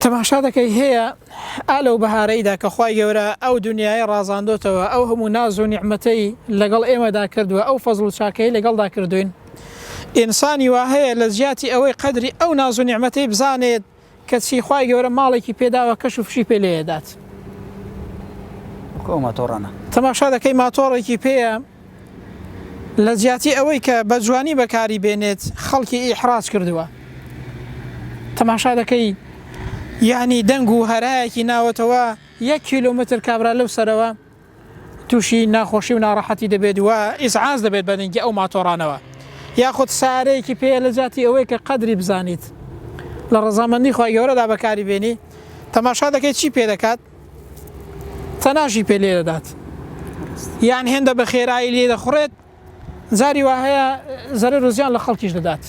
تەماشا دەکەی هەیە ئا لەو بەهارەیدا کە خوای گەورە ئەو دونیایەی ڕازاندۆتەوە ئەو هەموو ناز و نیعمەتەی لەگەڵ ئێمەدا کردوە ئەو فەزڵ و چاکەیەی لەگەڵدا کردوین ئینسانی وا هەیە لە جیاتی ئەوەی قەدری ئەو ناز و نیعمەتەی بزانێت کە چی خوای گەورە ماڵێکی پێداوە کەش و فشی پێ لێ دات. وەکو ئەو ماتۆڕانە. تەماشا دەکەی ماتۆڕێکی پێیە لە جیاتی ئەوەی کە بە جوانی بەکاری بێنێت خەڵکی ئیحراج کردووە. تەماشا دەکەی یانی دەنگ و هەرایەکی ناوەتەوە یەک کیلۆمەتر کابرا لەو سەرەوە تووشی ناخۆشی و ناڕەحەتی دەبێت و ئیزعاج دەبێت بە دەنگی ئەو ماتۆڕانەوە یاخود سارەیەکی پێ لە جیاتی ئەوەی کە قەدری بزانیت لە ڕەزامەندی خوای گەورەدا بەکاری بێنی تەماشا دەکەی چی پێ دەکات تەناشی پێ لێ دەدات یان هێندە بە خێرایی لێ دەخڕێت جاری وا هەیە زەرەر و زیان لە خەڵکیش دەدات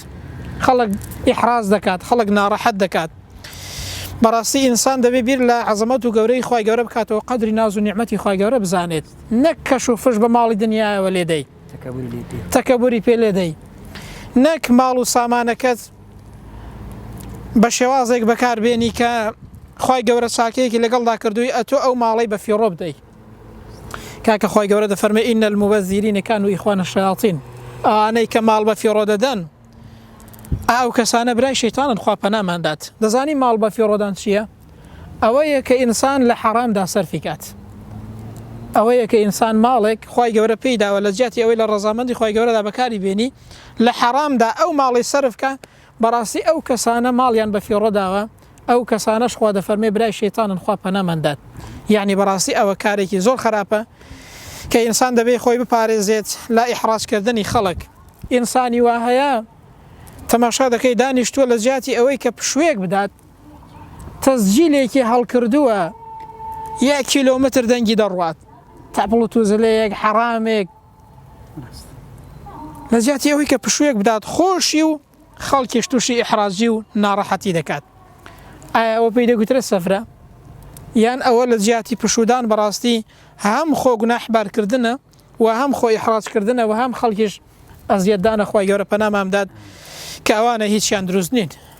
خەڵک ئحراز دەکات خەڵک ناڕەحەت دەکات بەڕاستی ئینسان دەبێ بیر لە عزمەت و گەورەی خی گەورە بکاتەوە قدری ناز و نیعممەتی خی گەورە بزانێت نەک کەش و فش بە ماڵی دنیاەوە لێدەی تەکەبوری پێ لێدەی نەک ماڵ و سامانەکەت بە شێوازێک بەکار بێنی کە خوای گەورە چاکەیەکی لەگەڵدا کردووی ئەتۆ ئەو ماڵەی بە فیڕۆ بدەی کاکە خوای گەورە دەفەرمە ئینە المبەزیرینەکان و ئیخوانە شەیاطین ئەوانەی کە ماڵ بە فیڕۆ دەدەن ئەو کەسانە برای شەیتانن خوا پەنامان دات دەزانی ماڵ بە فیڕۆدان چییە ئەوەیە کە ئینسان لە حەرامدا سەرفی کات ئەوەیە کە ئینسان ماڵێک خی گەورە پێی داوە لە جیاتی ئەوەی لە ڕزامەندی خی گەورەدا بەکاری بێنی لە حەرامدا ئەو ماڵەی سەرف کا بەڕاستی ئەو کەسانە ماڵیان بە فیڕۆ داوە ئەو کەسانەش خوا دەفەرمێ برای شەیتانن خوا پەنامان دات یعنی بەڕاستی ئەوە کارێکی زۆر خراپە کە ئینسان دەبێ خۆی بپارێزێت لا ئیحڕاجکردنی خەڵک ئینسانی وا هەیە تەماشا دەکەی دانیشتووە لە جیاتی ئەوەی کە پشوێک بدات تەزجیلێکی هەڵکردووە یە کیلۆمتر دەنگی دەڕوات تاپڵ و توزلەیەک حەرامێک لە جیاتی ئەوەی کە پشوویەک بدات خۆشی و خەڵکیش تووشی ئیحرازی و ناڕەحەتی دەکات ئایا ئەوە پێی دەگوترە سەفرە یان ئەوە لە جیاتی پشودان بەڕاستی هەم خۆ گوناحبارکردنە و هەم خۆی حڕاجکردنە و هەم خەڵکیش ئەزیەتدانە خۆی گەورە پەنامامداد کە ئەوانە هیچیان دروست نین